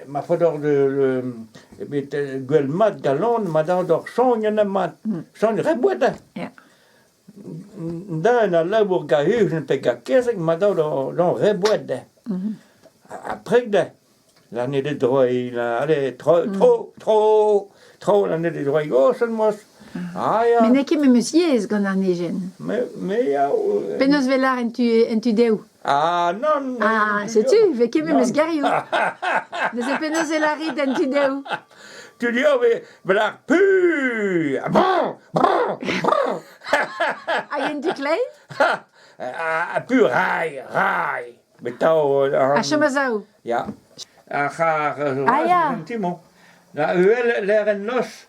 ma faot oc'h gwell mat galon ma dad oc'h soñj ha mat soñj re boued. Da en al labour gahus pe gakezek ma dad oc'h re boued. Après da l'année des droits, allez, trop, trop, trop, trop l'année des droits goshen mos. Mais n'eo ket memes yezh gant an ejen. Me ya. Penaos 'vel en tu dehoù? Ah nann Ah, setu, vez ket memes gerioù. Neuze penaos e lârit en tu-dehoù? Tu dehoù vez bet ar pu Bon Bon Bon Hag en tu kleiz? Ah pu rai rai Betao A chom a-zaou. Ya. Ar c'har... Ah, ya. Un ti-mañ. Na uhel lêr en noz.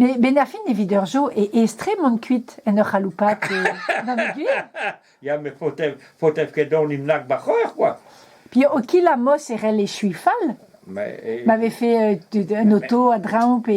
Men ar fin evit ur jeu e estrem on kuit en ur c'haloupat gant e gwir. Ya, met faotev ket donimp nak ba c'hwec'h, quoi. Puis au kil amos e rell echuiñ fall. Ma vefe un auto a-dreñv pe...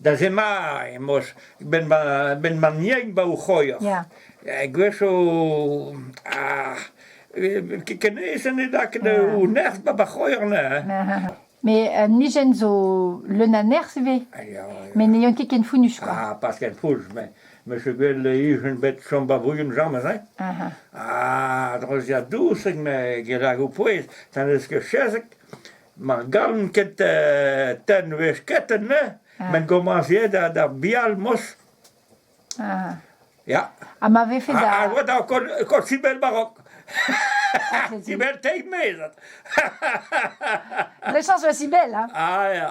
Da zema emaoz ben ma ben ma niain ba o c'hoior. Ya. E gwech o ar kenez ene da ket o nerz ba ba c'hoior ne. Mais un hygiène zo leun a nerz ivez. Mais n'ayant ket ken founus quoi. Ah, pas ken foulz, mais Monsieur Gwen le hugen bet chom ba brugen jamez, hein? Ah, droziad dousek, me gelag o pouez, tanez que chezek. mar galon ket euh, tenvez ketenne, ah. men gomaziet d'ar bial mos. Ah. Ja. Ha ma vefe da... Ha oa da kor sibel barok. Ah, sibel teig mezat. Le chans oa sibel, hein? Ah, ja.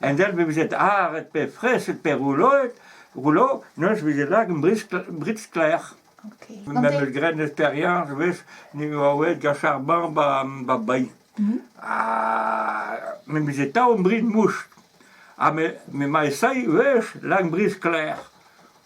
En del be veze aret pe fraeset pe rouloet, roulo, neus veze lak brit sklaer. Memes gren experiañs wech ne oa oet gant charban ba bailh. Ha me veze tav brin moust. Ha me ma esai wech lak bris sklaer.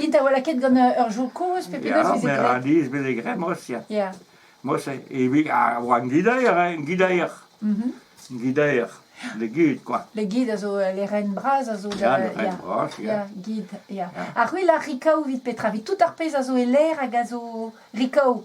It a oa lakaet gant ur jour kozh, pe penaos e veze graet? Ya, maez veze graet mos, ya. Ya. Mos, evit ar gidaer, hein, gidaer. Gidaer, le guide, quoi. Le guide a zo les rennes bras a zo. Ya, le rennes bras, ya. Ya, guide, ya. Ha c'hwi la rikaou vit petra? Vit tout ar pezh a zo e lêr hag a zo rikaou.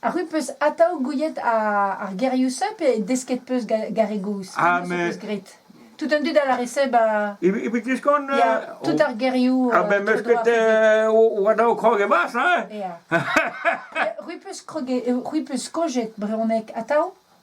Arru 'peus atav gouiet ar gerioù-se pe desket 'peus gar e gozh? Ah, mais... Tout an dud a lâre se ba... Evit diskont... Tout ar gerioù... Ah ben meus ket war-dro krog e barzh, hein? Ru 'peus kroget, ru 'peus skojet brezhoneg atav?